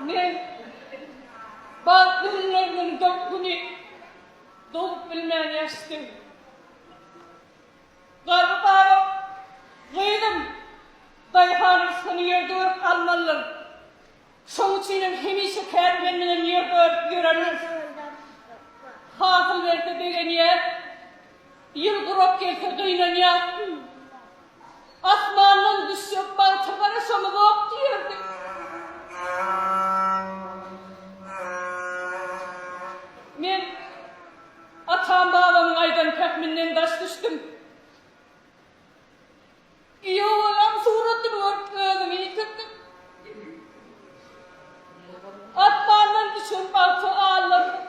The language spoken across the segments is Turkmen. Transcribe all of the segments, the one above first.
Men bagtly günlerimiň dört güni dolup bilmän ýaşdym. Garry babam, Gyzym, daýhanyň üstüni ýerde örüp almalydyr. Şoň üçinem hemişe kän menden ýerde örüp ýörerler. Hasyl berse begenýäs, ýyl gurak gelse gynanýas. Asmandan düşjek bagta garaşamyzok diýerdi. Men atam-babamyň aýdan pähminden daş düşdüm. Iýowalam suratyny görüp özümi ýitirdim. Asmandan düşen bagty allaryn.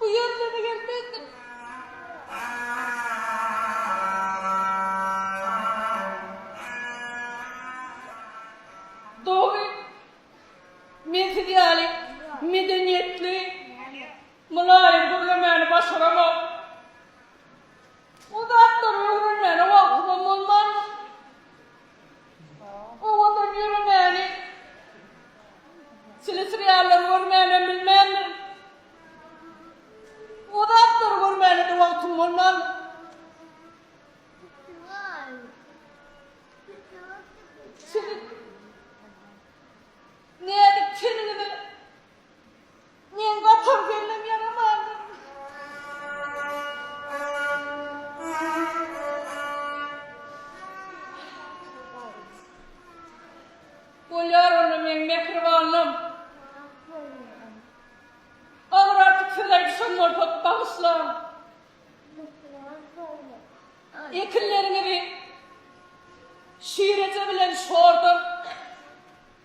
Bu ýerlere gelmezdim. Dogry, men siz ýaly medeniýetli, mylaýym gürlemäni başaramok. Bu zatlary öwrenmäne wagtymam bolman. Owadan ýöremäni teleseriallar görmänem bilmändir. O zatlary görmäne-de wagtym bolmandyr. Siziň näzik teniňize Men gatar gelnem ýaramandyr. Bolýar onda meň mähribanlym. Agyr artyk söz aýdyşym bolsa bagyşlaň. Ekinleriňizi şireje bilen şordan.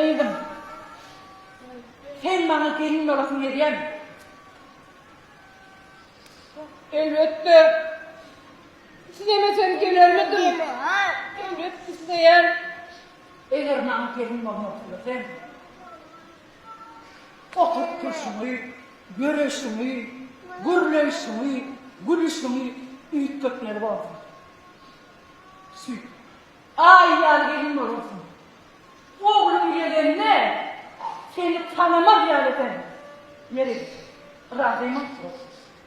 Gyzym, sen maňa gelin bolasyň gelýärmi? Elbetde. Islemesem gelermidim? Elbet isleýän. Eger maňa gelin bolmak isleseň, Oturyp turşuňy, göreşiňi, gürleýşiňi, gülüşiňi üýtgetmeli boldum. Süýt. Aý ýaly gelin bolarsyň. Ogluň gelende seni tanamaz ýaly ederin. Ýeri, razymy?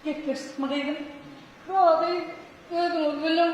Gepleşdikmi gyzym? Razy, özüňiz biliň.